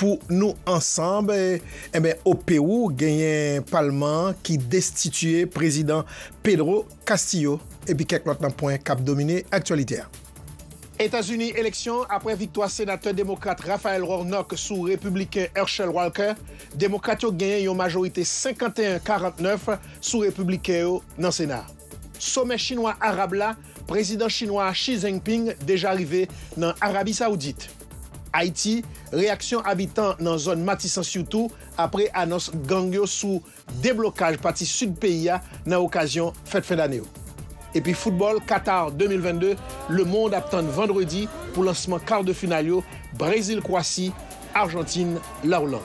Pou nou ansanb, enben o Pewou genyen palman an ki destitiye prezidan Pedro Castillo epi kèk lòt nan pwen kap domine aktyalite a. Etazini, Eleksyon, Apre viktwa senatè demokrat Raphael Warnock sou repibliken Herschel Walker, demokrat yo genyen yon majorite 51, 49 sou repibliken yo nan sena a. Somè chinwa-arab la Prezidan chinwa a Xi Jinping deja rive nan Arabi Saoudit. Ayiti, Reyaksyon abitan nan zòn Matisan sitou apre anons gang yo sou deblokaj pati sid peyi a nan okazyon fèt fen dane yo. Epi foutbòl Qatar 2022, lemond ap tann vandredi pou lansman kar de final yo, Brezil Kwasi, Arjantin La Oland.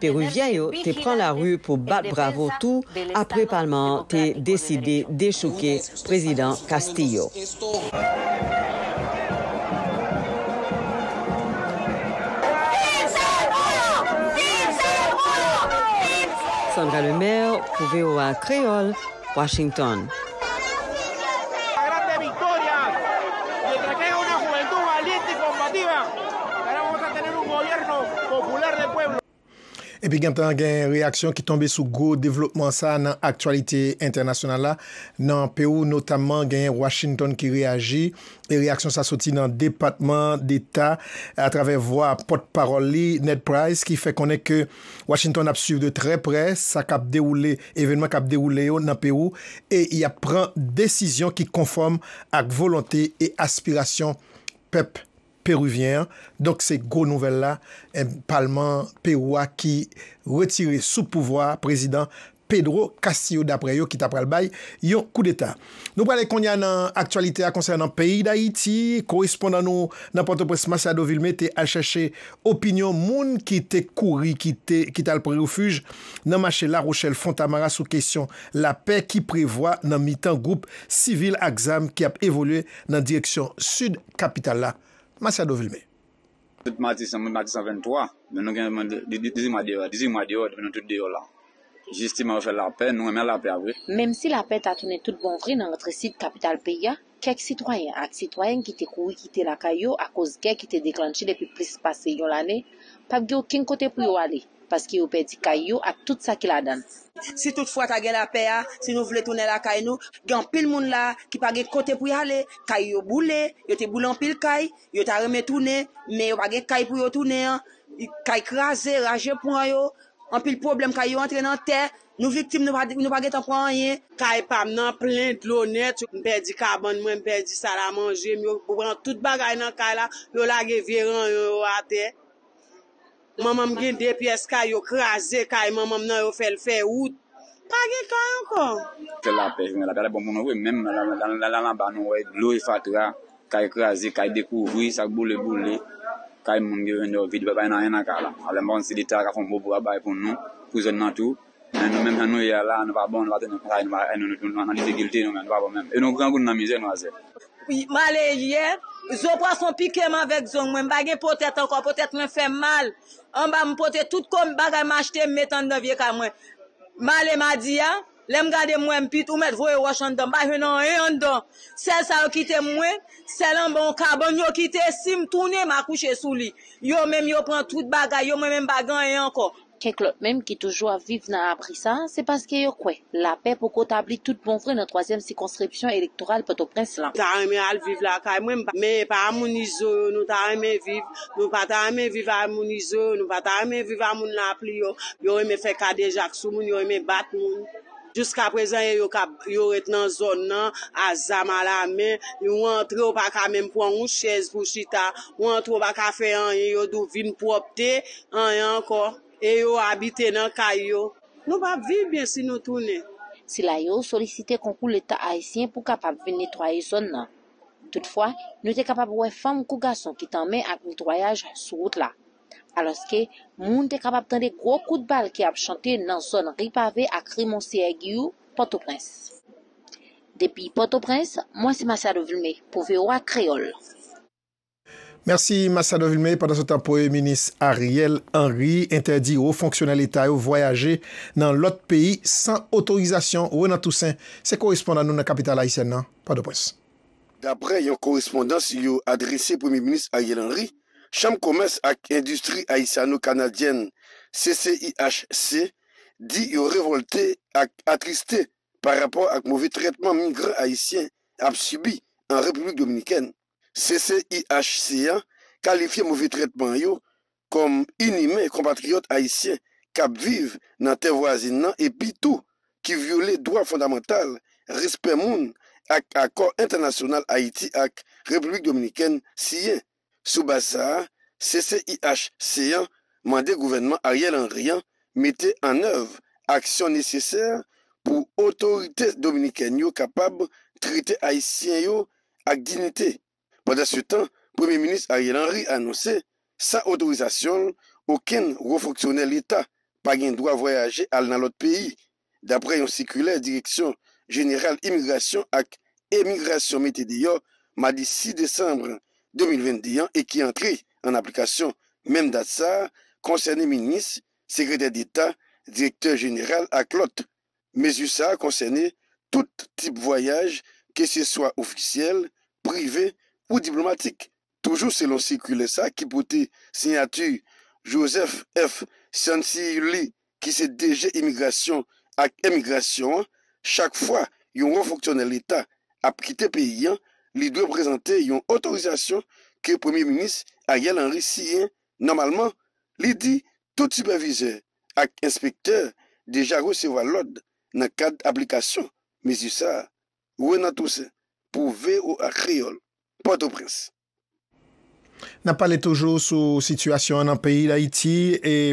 Peruvyen yo te pran lari pou bat bravo tou apre palman an te deside dechouke Prezidan Castillo. Sandra Lemaire pou voa Kreyol, Washington. Epi gentan gen reyaksyon ki tonbe sou gwo devlopman sa a nan aktyalite entènasyonal la nan Pewou notamman genyen Washington ki reyaji e reyaksyon sa soti nan Depatman Deta atravè vwa pòt pawòl li Ned Price ki fè konnen ke Washington ap swiv de trè prè sa k ap dewoule, evènman k ap dewoule yo nan Pewou e y ap pran desizyon ki konfòm ak volonte e aspirasyon pèp Peruvyen an, donk se gwo nouvèl la, palman Pewou a ki retire sou pouvwa a prezidan Pedro Castillo daprè yo ki ta pral bay yon koudeta. Nou prale kounye a nan aktyalite a konsènan peyi Dayiti, korespondan nou nan Pòtoprens Masiado Vilme te al chèche opinyon moun ki te kouri kite ki tal pran refij nan mache Larochèl Fontamara sou kesyon lapè ki prevwa nan mitan gwoup sivil ak zam ki ap evolye nan direksyon sid kapital la Masiado Vilme. Tout matisan mwen matisan 23 men nou gen 18 mwa deyò 18 mwa deyò depi nou tout deyò la jisteman yo fè lapè nou renmen lapè a vre. Menmsi lapè ta tounen tout bon vre nan rantre sid kapital peyi a, kèk sitwayen ak sitwayèn ki te kouri kite lakay yo akoz gè ki te deklannche depi plis pase yon lane p ap gen okenn kote pou yo ale paske yo pèdi kay yo ak tout sa ki ladan l. Si tout fwa ta gen lapè a, si nou vle tounen lakay nou, gen anpil moun la a ki pa gen kote pou y ale, kay yo boule, yo te boule anpil kay, Yo ta renmen tounen, men yo pa gen kay pou yo tounen an. Kay kraze, raje pran yo. Anpil pwoblèm kay yo antre nan tè. Nou viktim, nou pa gen tan pran anyen. Kay pa m nan plen dlo nèt. M pèdi kabann mwen, m pèdi sal a manje m. Yo pran tout bagay nan kay la. Yo lage vye ranyon yo atè. Manmanm gen 2 pyès kay yo kraze kay manmanm nan yo fèl fè wout pa gen kay ankò. Fè lapè jwenn lapè lapè bon pou nou vre menm nan anba nou wè dlo e fatra kay kraze kay dekouvri sak boule boule kay moun grandèv vide pa gen anyen nan kay la alò mpa konn si leta ka fon bon bra bay pou nou pou zòn nan tou. Men nou menm jan nou ye a la a nou pa bon nou pa tounen konsa e nou pa e nou nou nan difikilte nou menm nou pa bon menm e nou grangoun nan mizè nou azè. M ale yè zo pwason pike m avèk zong mwen m pa gen po tèt ankò po tèt mwen fè m mal anba m pote tout ko m bagay m achte m met anndan vye kay mwen m ale madi a lè m gade m wè m pit ou mèt voye wòch anndan m pa jwenn anyen anndan sèl sa yo kite m mwen sèl anba yon kabann yo kite si m tounen m akouche sou li yo menm yo pran tout bagay yo mwen menm m pa gen anyen ankò Kèk lòt menm ki toujou ap viv nan abri sa a, se paske yo kwè lapè poko tabli tout bon vre nan twazyèm sikonskripsyon elektoral Pòtoprens lan. Ta renmen al viv lakay mwen men epa a moun izo yo nou ta renmen viv nou pa ta renmen viv a moun izo yo nou pa ta renmen viv a moun lapli yo yo renmen fè kadejak sou moun yo renmen bat moun. Jiska prezan e yo kap yo ret nan zòn nan a zam a la men, ou antre ou pa ka menm pran yon chèz pou chita, ou antre ou pa ka fè anyen, yo di w vin pwòpte, anyen ankò. E yo abite nan kay yo. Nou p ap viv byen si nou tounen. Sila yo solisite konkou leta ayisyen pou kapab vin netwaye zòn nan. Toutfwa, nou te kapab wè fanm kou gason ki tanmen ak netwayaj sou wout la. alòske moun te kapab tande gwo kout bal ki ap chante nan zòn Ri Pave ak Ri Monseyè Giyou, Pòtoprens. Depi Pòtoprens, mwen se Masiado Vilmé pou voa Kreyòl. Mèsi Masiado Vilmé, Pandansetan Premye Minis Ariel Henry entèdi wo fonksyonè leta yo vwayaje nan lòt peyi san otorizasyon Renan Toussaint se korespondan nou nan kapital ayisyèn nan, Pòtoprens. Daprè yon korespondans yo adrese Premye Minis Ariel Henry, Chanm Komès ak Endistri Ayisyano-Kanadyèn, CCIHC, di yo revòlte ak atriste pa rapò ak move trètman migran ayisyen ap sibi an Repiblik Dominikèn. CCIHC an kalifye move trètman yo kòm inimen konpatriyòt ayisyen k ap viv nan tè vwazin nan epi tou ki vyole dwa fondamantal, respè moun ak akò entènasyonal Ayiti ak Repiblik Dominikèn siyen. Sou baz sa a, CCIHC an mande gouvènman Ariel Henry an mete an èv aksyon nesesè pou otorite dominikèn yo kapab trete ayisyen yo ak dinite. Pandansetan, Premye Minis Ariel Henry anonse, san otorizasyon l, okenn wo fonksyonè leta pa gen dwa vwayaje al nan lòt peyi Daprè yon sikilè Direksyon Jeneral Imigrasyon ak Emigrasyon mete deyò madi 6 desanm 2022 an e ki antre an aplikasyon menm dat sa a, konsène minis, sekretè deta, direktè jeneral ak lòt. Mezi sa a konsène tout tip vwayaj keseswa ofisyèl, prive ou diplomatik. Toujou selon sikilè sa ki pote siyati Joseph F. Cianciulli ki se DG Imigrasyon ak Emigrasyon an, chak fwa yon wo fonksyonè leta ap kite peyi an, li dwe prezante yon otorizasyon ke Premye Minis Ariel Henry siyen nòmalman. Li di tout sipèvizè ak enspektè deja resevwa lòd nan kad aplikasyon mezi sa a. Renan Toussaint pou voa Kreyòl. Pòtoprens. N ap pale toujou sou sitiyasyon an nan peyi Dayiti.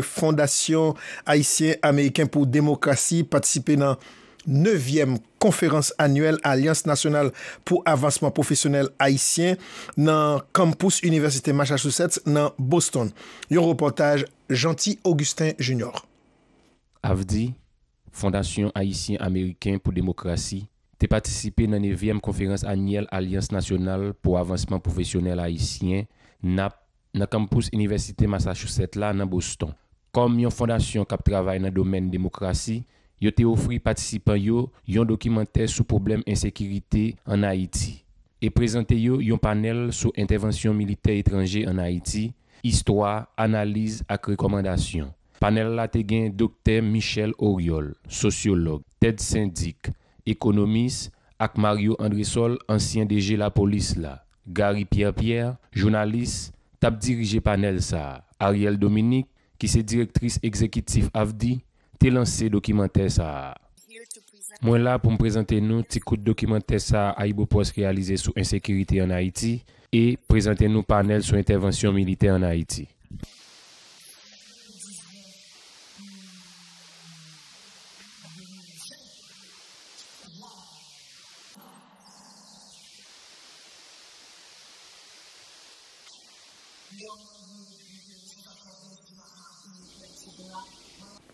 Fondasyon Ayisyen Ameriken pou Demokrasi patisipe nan nevyèm konferans anyèl Alyans Nasyonal pou Avansman Pwofesyonèl Ayisyen nan Kampous Inivèsite Massachusetts nan Boston. Yon repòtaj Jeanty Augustin Junior. Avdi, Fondasyon Ayisyen-Ameriken pou Demokrasi te patisipe nan nevyèm konferans anyèl Alyans Nasyonal pou Avansman Pwofesyonèl Ayisyen, nap, nan kanmpous Inivèsite Massachusetts la nan Boston. Kòm yon fondasyon k ap travay nan domèn demokrasi, yo te ofri patisipan yo yon dokimantè sou pwoblèm ensekirite ann Ayiti e prezante yo yon panèl sou entèvansyon militè etranje ann Ayiti, istwa, analiz ak rekòmandasyon. Panèl la te gen Doktè Michèle Oriol, sosyològ, Ted St. Dic, ekonomis, ak Mario Andresol, ansyen DG Lapolis la. Garry Pierre Pierre, jounalis, t ap dirije panèl sa a. Arielle Dominique, ki se direktris egzekitif AFDI, te lanse dokimantè sa a. Mwen la pou m prezante nou ti kout dokimantè sa AyiboPost reyalize sou ensekirite an Ayiti e prezante nou panèl sou entèvansyon militè an Ayiti.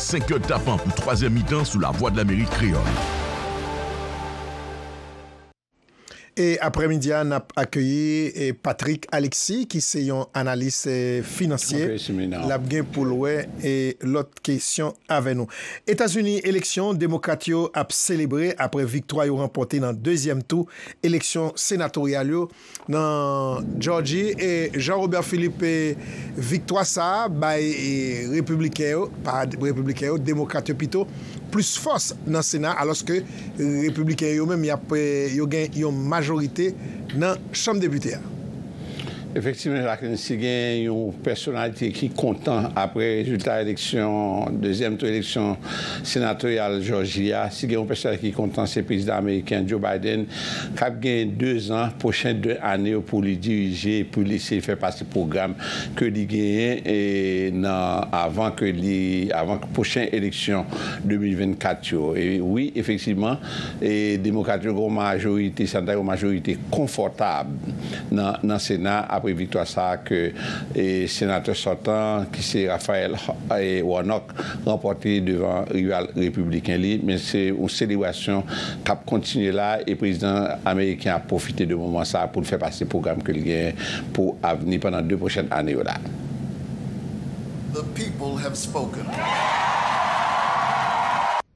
5 kè tapan pou twazyèm mitan sou Lavwadlamerik Kreyòl. E aprè midi a nap akeyi Patrick Alexis ki se yon analis finansye lap gen poul wè lòt kesyon avè nou. Etazini eleksyon demokrat yo ap selebre aprè viktwa yo ranpòte nan dezyèm tou eleksyon senatoryal yo. nan Jòji e Jean Robert Philippe viktwa sa a bay repibliken yo, pa repibliken yo, demokrat yo pito, plis fòs nan sena alòske repibliken yo menm yo gen yon majorite nan chanm depite a. Efektivman Jacqueline, si gen yon pèsonalite ki kontan apre rezilta eleksyon dezyèm tou eleksyon senatoryal Jòji a, si gen yon pèsonalite ki kontan se prezidan ameriken Joe Biden k ap genyen 2 zan, pwochen 2 ane yo pou li dirije, pou li eseye fè pase pwogram ke li genyen nan avan ke li, avan pwochen eleksyon 2024 yo. E wi, efektivman, Demokrat yo gen yon majorite, sa nou ta rele yon majorite konfòtab nan Sena apre viktwa sa a ke Senatè sòtan ki se Raphael Warnock, ranpòte devan rival repibliken li, men se yon selebrasyon k ap kontinye la a e prezidan ameriken ap pwofite de moman sa a pou l fè pase pwogram ke l genyen pou avni pandan 2 pwochèn ane yo la a.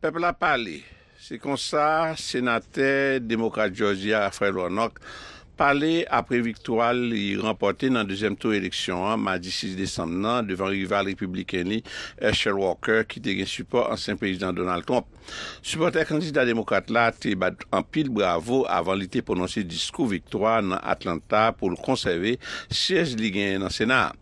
Pèp la pale! Se konsa, senatè demokrat Jòjya Raphael Warnock pale apre viktwa li ranpòte nan dezyèm tou eleksyon an madi 6 desanm nan devan rival repibliken li Herschel Walker ki te gen sipò ansyen prezidan Donald Trump. Sipòtè kandida demokrat la te bat anpil bravo avan li te pwononse diskou viktwa nan Atlanta pou l konsève syèj li genyen nan Sena a.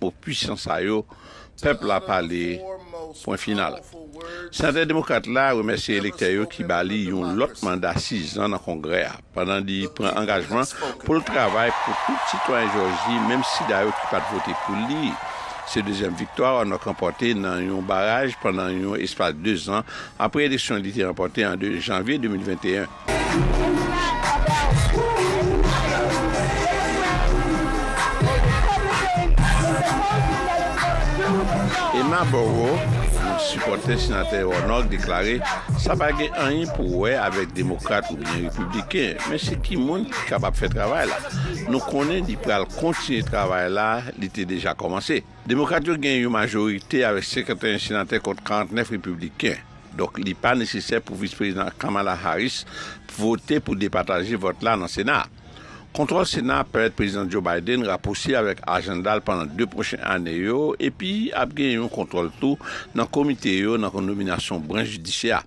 mo pwisan sa yo pèp la pale pwen final. Senatè demokrat la remèsye elektè yo ki ba li yon lòt manda 6 zan nan Kongrè a pandan li pran angajman pou l travay pou tout sitwayen Jòji menm sida yo ki pat vote pou li. Se dezyèm viktwa Warnock ranpòte nan yon baraj pandan yon espas 2 zan apre eleksyon li te ranpòte an 2 janvye 2021. Emma Boro, yon sipòtè Senatè Warnock deklare sa pa gen anyen pou wè avèk Demokrat oubyen Repibliken, men se ki moun ki kapab fè travay la. Nou konnen li pral kontinye travay la li te deja kòmanse. Demokrat yo gen yon majorite avèk 51 senatè kont 49 repibliken, donk li pa nesesè pou Vis Prezidan Kamala Harris vote pou depataje vòt la nan Sena a. Kontwòl Sena a pèmèt Prezidan Joe Biden rapouswiv avèk ajanda l pandan 2 pwochen ane yo epi ap gen yon kontwòl tou nan komite yo nan nominasyon branch jidisyè a.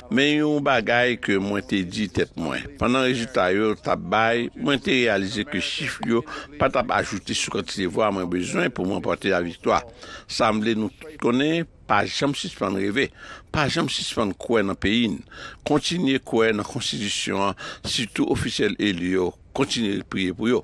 Men yon bagay ke mwen te di tèt mwen, pandan rezilta yo t ap bay, mwen te reyalize ke chif yo pa t ap ajoute sou kantite vwa mwen bezwen pou m ranpòte laviktwa. Sanble nou tout konnen, pa janm sispann reve, pa janm sispann kwè nan peyi n, kontinye kwè nan konstitisyon an, sitou ofisyèl eli yo, kontinye priye pou yo.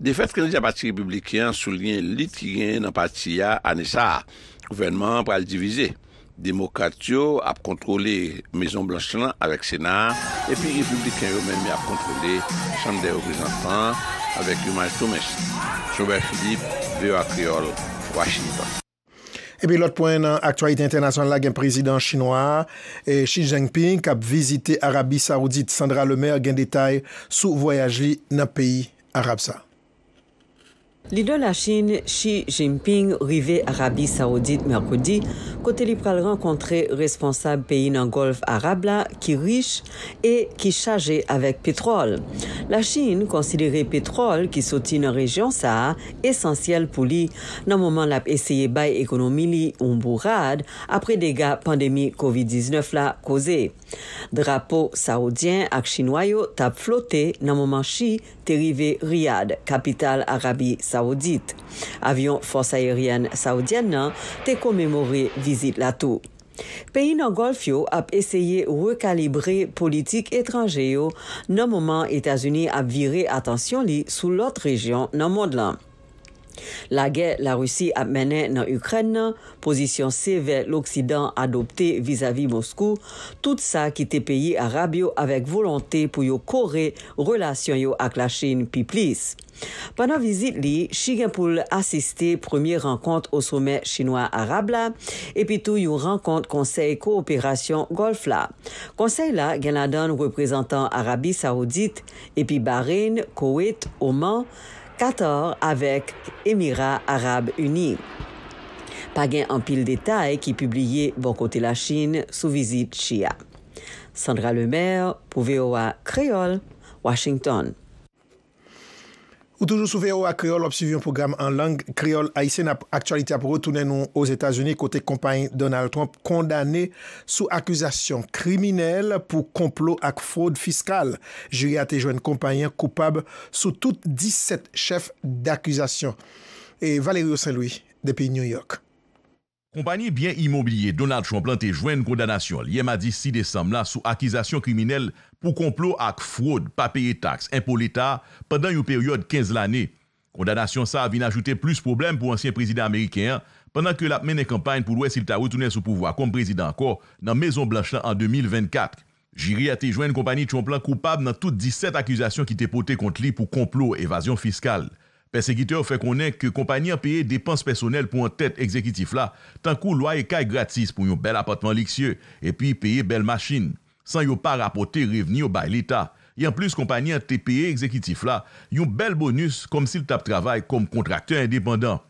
Defèt kandida pati Repibliken an souliyen lit ki genyen nan pati a ane sa a. Gouvènman an pral divize. Demokrat yo ap kontwole Mezon Blanch lan avèk Sena a, epi Repibliken yo menm y ap kontwole Chanm dè Reprezantan an avèk yon majtomens. Jean-Robert Philippe, voa Kreyòl, Washington. Epi lòt pwen nan aktyalite entènasyonal la gen prezidan chinwa a Xi Jinping k ap vizite Arabi Saoudit. Sandra Lemaire gen detay sou vwayaj li nan peyi arab sa. Lidè Lachin Xi Jinping rive Arabi Saoudit mèkredi kote li pral rankontre responsab peyi nan Gòlf Arab la ki rich e ki chaje avèk petwòl. Lachin konsidere petwòl ki soti nan rejyon sa a esansyèl pou li nan moman l ap eseye bay ekonomi li yon bourad apre dega pandemi kovid 19 la koze. Drapo sawoudyen ak chinwa yo t ap flote nan moman Xi te rive Riyad, kapital Arabi Sawoudit. Avyon fòs ayeryèn saoudyèn nan te komemore vizit la tou. Peyi nan Gòlf yo ap eseye rekalibre politik etranje yo nan moman Etazini ap vire atansyon li sou lòt rejyon nan mond lan. Lagè Larisi ap mennen nan Ikrèn nan, pozisyon sevè loksidan adopte vizavi Moskou, tout sa kite peyi arab yo avèk volonte pou yo kore relasyon yo ak Lachin pi plis. Pandan vizit li, Xi gen pou l asiste premye rankont o somè chinwa-arab la epi tou yon rankont Konsèy Kowoperasyon Gòlf la. Konsèy la gen ladan l reprezantan Arabi Sawoudit epi Bahreïn, Koweit, Oman, Katar avèk Emira Arab Ini. Pa gen anpil detay ki pibliye bò kote Lachin sou vizit Xi a. Sandra Lemaire pou voa Kreyòl, Washington. Ou toujou sou voa Kreyol wap swiv yon pwogram an lang kreyol ayisyen nap aktyalite ap retounen nou ozetazini kote konpay Donald Trump kondane sou akizasyon kriminèl pou konplo ak fwod fiskal jiri a te jwenn konpay an koupab sou tout 17 chèf dakizasyon Valerio Saint Louis depi New York. Konpayi byen imobilye Donald Trump lan te jwenn kondanasyon l yè madi 6 desanm la sou akizasyon kriminèl pou konplo ak fwod pa peye taks enpo leta pandan yon peryòd 15 lane. Kondanasyon sa a vin ajoute plis pwoblèm pou ansyen prezidan ameriken an pandan ke l ap mennen kanpay pou l wè si l ta retounen sou pouvwa kòm prezidan ankò nan Mezon Blanch lan an 2024. Jiri a te jwenn konpani Trump la koupab nan tout 17 akizasyon ki te pote kont li pou konplo, evazyon fiskal. Pèsekitè yo fè konnen ke konpani an peye depans pèsonèl pou antèt egzekitif la, tankou lwaye kay gratis pou yon bèl apatman liksye, epi peye bèl machin, san yo pa rapòte revni yo bay leta. E anplis konpani an te peye egzekitif la yon bèl bonis kòmsi l t ap travay kòm kontraktè endepandan.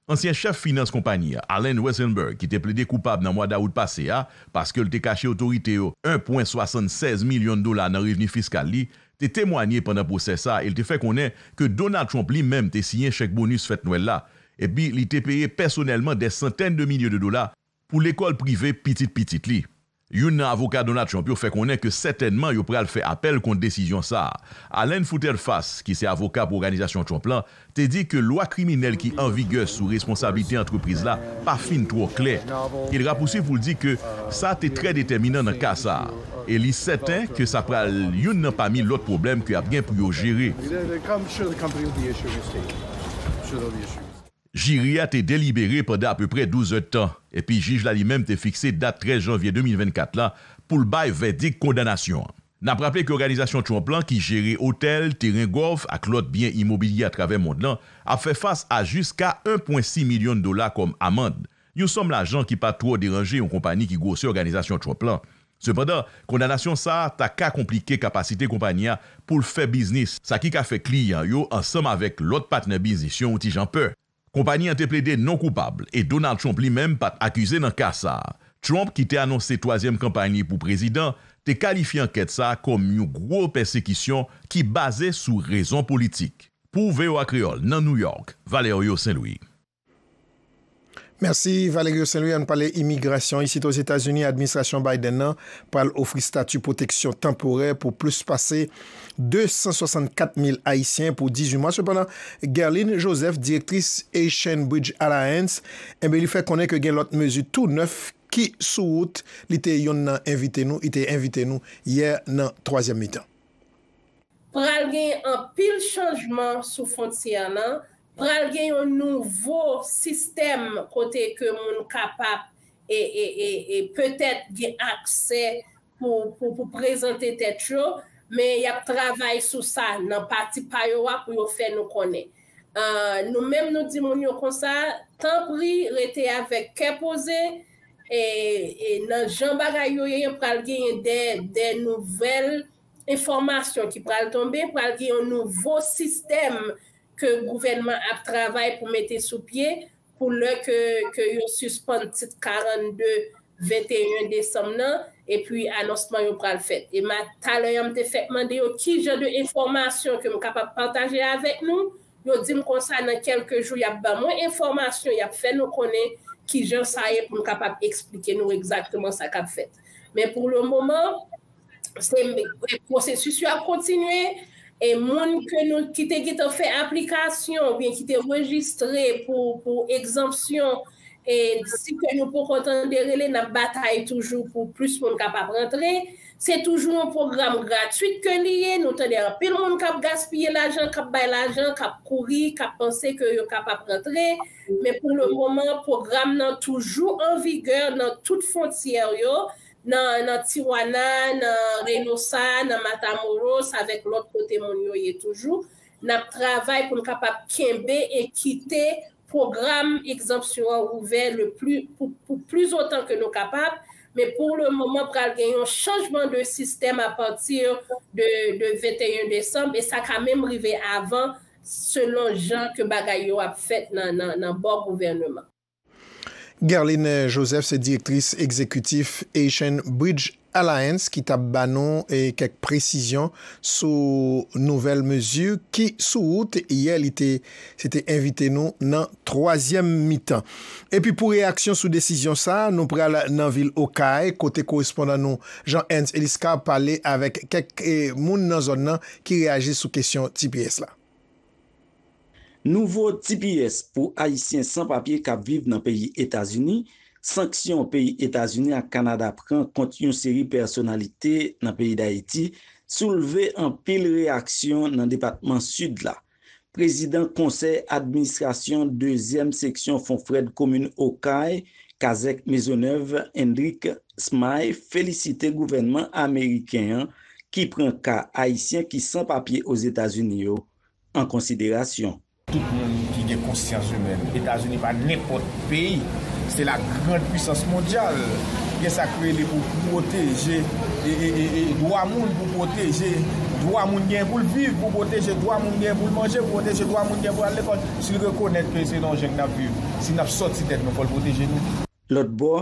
Ansyen chèf finans konpayi a, Alan Weisselberg ki te plede koupab nan mwa dawout pase a paske l te kache otorite yo 1,76 milyon dola nan revni fiskal li, te temwanye pandan pwosè sa e l te fè konnen ke Donald Trump li menm te siyen chèk bonis fèt nwèl la epi li te peye pèsonèlman dè santèn de milye de dola Pou lekòl prive pitit pitit li. Youn nan avoka Donald Trump yo fè konnen ke sètènman yo pral fè apèl kont desizyon sa a. Allen Futerfas, ki se avoka pou Oganizasyon Trump lan, te di ke lwa kriminèl ki an vigè sou responsablite antrepriz la pa fin twò klè. E l rapousuiv pou l di ke sa te trè detèminan nan ka sa a, e li sèten ke sa pral youn nan pami lòt pwoblèm ke ap gen pou yo jere. Jiri a te delibere pandan apeprè 12 èdtan, epi jij la li menm te fikse dat 13 janvye 2024 la pou l bay vèdik kondanasyon an. N ap raple ke òganizasyon Trump lan ki jere otèl, teren gòlf ak lòt byen imobilye atravè mond lan ap fè fas a jiska 1,6 milyon dola kòm amand yon sòm lajan ki pa twò deranje yon konpani ki gwosè Òganizasyon Trump la. Sepandan, kondanasyon sa a ta ka konplike kapasite konpani a pou l fè biznis, sa ki ka fè kliyan yo ansanm avèk lòt patnè biznis yo yon ti jan pè. Konpani an te plede non koupab e Donald Trump li menm pa t akize nan ka sa a. Trump, ki te anonse twazyèm kanpay li pou prezidan, te kalifye ankèt sa a kòm yon gwo pèsekisyon ki baze sou rezon politik. Pou voa Kreyòl nan New York, Valerio Saint-Louis. Mèsi Valerio Saint-Louis, ann pale imigrasyon. Isit Ozetazini, administrasyon Biden nan pral ofri stati pwoteksyon tanporè pou plis pase 264 mil Ayisyen pou 18 mwa. Sepandan, Guerline Joseph, direktris Haitian Bridge Alliance, enben li fè konnen ke gen lòt mezi tou nèf ki sou wout. Li te yonn nan envite nou, li te envite nou yè nan twazyèm mitan. Pral gen anpil chanjman sou fwontyè nan Pral gen yon nouvo sistèm kote ke moun kapap petèt gen aksè pou prezante tèt yo, men y ap travay sou sa nan pati pa yo a pou yo fè nou konnen. Nou menm nou di moun yo konsa, tanpri rete avèk kè poze, nan jan bagay yo ye pral genyen de nouvèl enfòmasyon ki pral tonbe, pral gen yon nouvo sistèm ke gouvènman ap travay pou mete sou pye pou lè ke ke yo sispann tit 42 21 desanm nan epi anonsman yo pral fèt e ma talè an m te fèk mande yo ki jan de enfòmasyon ke m kapab pataje avèk nou yo di m konsa nan kèlke jou y ap ban mwen enfòmasyon y ap fè nou konnen ki jan sa ye pou m kapab eksplike nou egzakteman sa k ap fèt men pou le moman Pwosesis yo ap kontinye, e moun ki te gentan fè aplikasyon ou byen ki te rejistre pou egzanpsyon, si kè nou poko tande rele n ap batay toujou pou plis moun kapab rantre. Se toujou yon pwogram gratwit ke li ye, nou tande anpil moun k ap gaspiye lajan, k ap bay lajan, k ap kouri, k ap panse ke yo kapab rantre. Men pou le moman, pwogram nan toujou an vigè nan tout fontyè yo, nan Tijuana, nan Reynosa, nan Matamoros avèk lòt kote moun yo ye toujou, n ap travay pou n kapab kenbe e kite pwogram egzanpsyon an ouvè le pli pou plizotan ke nou kapab, men pou le moman pral gen yon chanjman de sistèm apati de 21 desanm e sa ka menm rive avan selon jan ke bagay yo ap fèt nan bò gouvèneman. Guerline Joseph se direktris egzekitif Haitian Bridge Alliance ki tap ba nou kèk presizyon sou nouvèl mezi ki sou wout yè li te se te envite nou nan twazyèm mitan. Epi pou reyaksyon sou desizyon sa nou pral nan vil Okay kote korespondan nou Jean Ernst Eliscar pale avèk kèk moun nan zòn nan ki reyaji sou kesyon tps la. Nouvo tps pou Ayisyen san papye k ap viv nan peyi Etazini, Sanksyon peyi Etazini ak Kanada pran kont yon seri pèsonalite nan peyi Dayiti soulve anpil reyaksyon nan depatman Sid la. Prezidan konsèy administrasyon dezyèm seksyon Fonfrèd komin Okay, Kazèk Mezonèv, Hendrick Smay felisite gouvènman ameriken an ki pran ka Ayisyen ki san papye Ozetazini yo an konsiderasyon. Tout moun ki gen konsyans imèn, Etazini pa nenpòt peyi, se la grand pwisans mondyal, gen sa k rele pou pwoteje dwa moun, pou pwoteje dwa moun genyen pou l viv, pou pwoteje dwa moun genyen pou l manje, pou pwoteje dwa moun genyen pou l al lekòl. Si l rekonèt ke se nan yon jeng n ap viv, si n ap sòti tèt nou, fò l pwoteje nou. Lòt bò,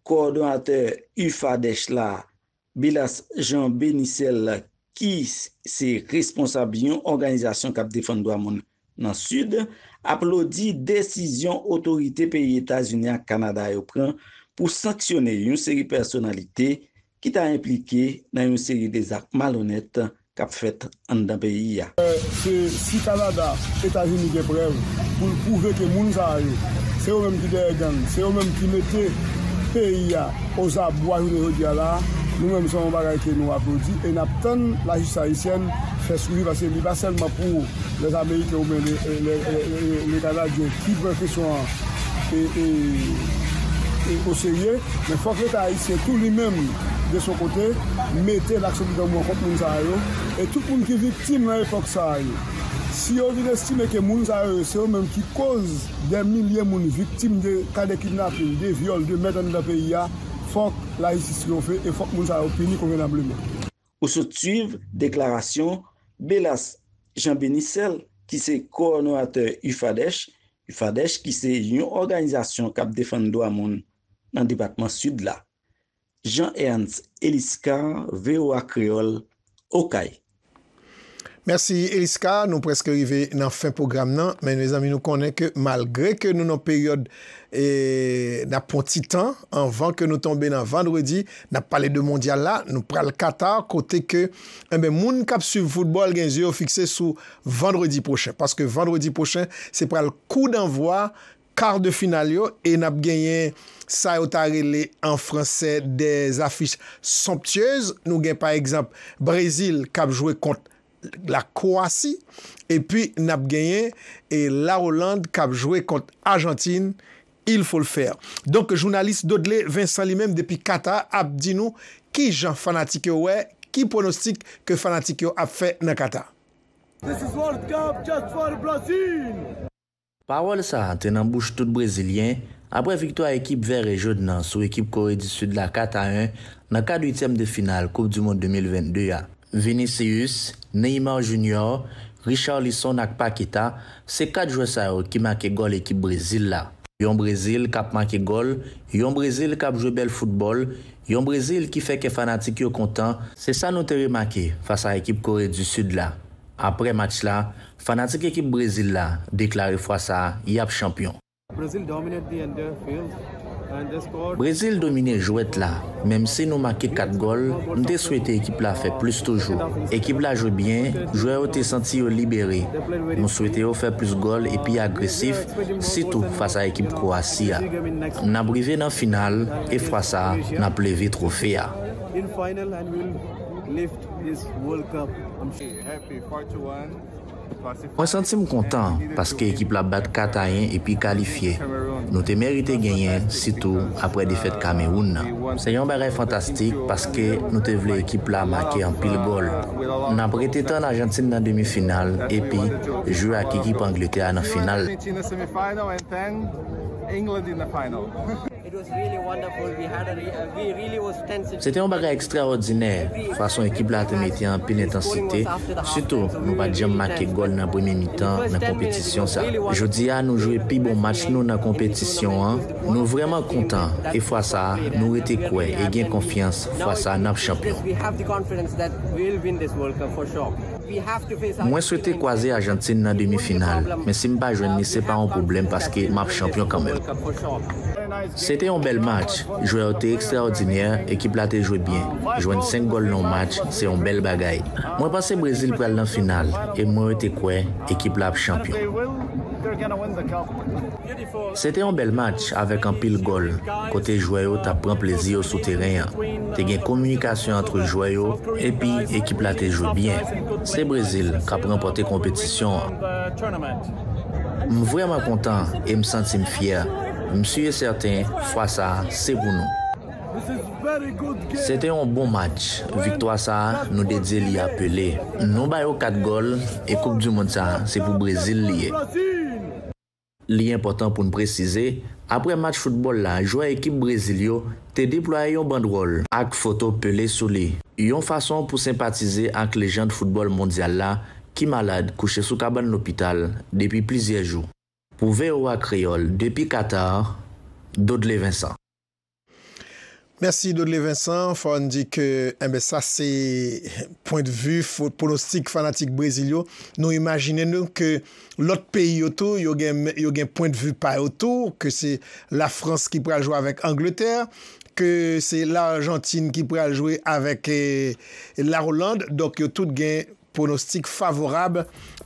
kowòdonatè UFADH la, Bilas Jean Benicel ki se responsab yon òganizasyon k ap defann dwa moun nan Sid, aplodi desizyon otorite peyi Etazini ak Kanada yo pran pou sanksyone yon seri pèsonalite ki ta enplike nan yon seri de zak malonèt k ap fèt anndan peyi a. Se si Kanada, Etazini gen prèv pou l pwouve ke moun sa a yo, se yo menm ki dèyè gang, se yo menm ki mete peyi a ozabwa jounen jodi a la a, nou menm se yon bagay ke nou aplodi e n ap tann lajistis ayisyèn fè swivi paske li pa sèlman pou lè ameriken oubyen lè kanadyen ki pran kesyon an oserye men fòk leta ayisyen tou li menm de son kote, mete laks sou bidon mò kont moun sa yo e tout moun ki viktim nan epòk sa yo. Si yo vin estime ke moun sa yo, se yo menm ki koz dè milye moun viktim de ka de kidnapin, de vyòl, de mèt anndan peyi a, fòk lajistis triyonfe e fòk moun sa yo pini konvenableman. Ou sot swiv deklarasyon Belas Jean Benicel ki se kowònatè UFADEH, UFADEH ki se yon òganizasyon k ap defann dwa moun nan depatman Sid la. Jean Ernst Eliscar, voa Kreyòl, Okay. Mèsi Eliscar, nou prèske rive nan fen pwogram nan, men mezanmi nou konnen ke malgre ke nou nan peryòd nap pran ti tan anvan ke nou tonbe nan vandredi, nap pale de mondyal la, nou pral Qatar kote ke enben moun kap swiv foutbòl gen zye yo fikse sou vandredi pwochen, paske vandredi pwochen se pral kou danvwa kar de final yo e nap genyen sa yo ta rele an fransè des affiches somptueuses, nou gen pa egzanp Brezil kap jwe kont la Kowasi epi nap genyen la Oland kap jwe kont Ajantin, il faut le faire. Donk jounalis Dodley Vincent li menm depi Qatar ap di nou kijan fanatik yo wè ki pronostik ke fanatik yo ap fè nan Qatar. This is World Cup just for Brazil! Pawòl sa a te nan bouch tout brezilyen aprè viktwa ekip Vère Jòn nan sou ekip Kore di Sid la 4 a 1 nan kad uityèm de final koup du mond 2022 a. Vinicius, Neymar Junior, Richarlison ak Paqueta se 4 jwè sa yo ki make gòl ekip Brezil la. Yon Brezil kap make gòl, yon Brezil kap jwe bèl foutbòl, yon Brezil ki fè kè fanatik yo kontan, se sa nou te remake fas a ekip Kore di Sid la aprè match la Fanatik ekip Brezil la deklare fwa sa a yap chanpyon. Brazil dominate the under field and they scored. Brezil domine jwèt la, menm si nou make 4 gòl, m te swete ekip la fè plis toujou. Ekip la jwe byen, jwè yo te santi yo libere. Nou swete yo fè plis gòl e pi agresif, sitou fas a ekip Kwowasi a. N ap rive nan final e fwa sa a n ap leve twofe a. Mwen santi m kontan paske ekip la bat Katayen epi kalifye. Nou te merite genyen, sitou aprè defèt Kamewoun nan. Se yon bagay fantastik paske nou te vle ekip la make anpil gòl. N ap rete tann Ajantin nan demi final epi jwe ak ekip Angletè a nan final la. Se te yon bagay ekstraòdinè fason ekip la te mete anpil entansite, sitou nou pa t janm make gòl nan premye mitan nan konpetisyon sa. Jodi a nou jwe pi bon match nou nan konpetisyon an, nou vrèman kontan e fwa sa nou rete kwè e gen konfyans fwa sa n ap chanpyon. Mwen swete kwaze Ajantin nan demi final, men si m pa jwenn li se pa yon pwoblèm paske m ap chanpyon kanmenm. Se te yon bèl match, jwè yo te ekstraòdinè, ekip la te jwe byen. Jwenn 5 gòl nan yon match, se yon bèl bagay. Mwen panse Brezil pral nan final e mwen rete kwè ekip la ap chanpyon. Se te yon bèl match avèk anpil gòl, kote jwè yo t ap pran plezi yo sou teren an. Te gen kominikasyon antre jwè yo epi ekip la te jwe byen. Se Brezil k ap ranpòte konpetisyon an. M vrèman kontan e m santi m fyè. M si e sèten fwa sa a se pou nou. Se te yon bon match. Viktwa sa a, nou dedye li a Pelé. Nou ba yo kat gòl e koupdimond sa a se pou Brezil li ye. Li enpòtan pou n presize, aprè match foutbòl la jwè ekip Brezil yo te deplwaye yon bandwòl, ak foto Pelé sou li, yon fason pou senpatize ak lejand foutbòl mondyal la ki malad kouche sou kabann lopital depi plizyè jou. Pou voa Kreyòl depi Katar, Dodlé Vincent. Mèsi Dodley Vincent, fò n di ke enben sa se pwen de vi pwonostik fanatik Brezil yo, nou imajine nou ke lòt peyi yo tou yo gen yo gen pwen de vi pa yo tou, ke se la Frans ki pral jwe avèk Angletè, ke se la Argentine ki pral jwe avèk la Hollande, donk yo tout gen. Pwonostik favorab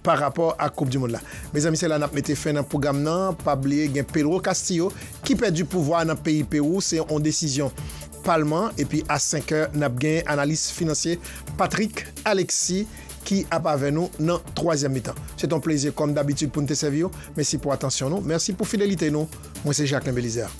pa rapò ak koup dimond la. Mezanmi se la nap mete fen nan pwogram nan, pa bliye gen Pedro Castillo ki pèdi pouvwa nan peyi Pewou se on desizyon palman epi a 5 è nap gen analis finansye Patrick Alexis ki ap avè nou nan twazyèm mitan. Se t on plezi kòm dabitid poun te sèviw, mesi pou atansyon nou, mèsi pou fidelite nou, mwen se Jacquelin Belizaire.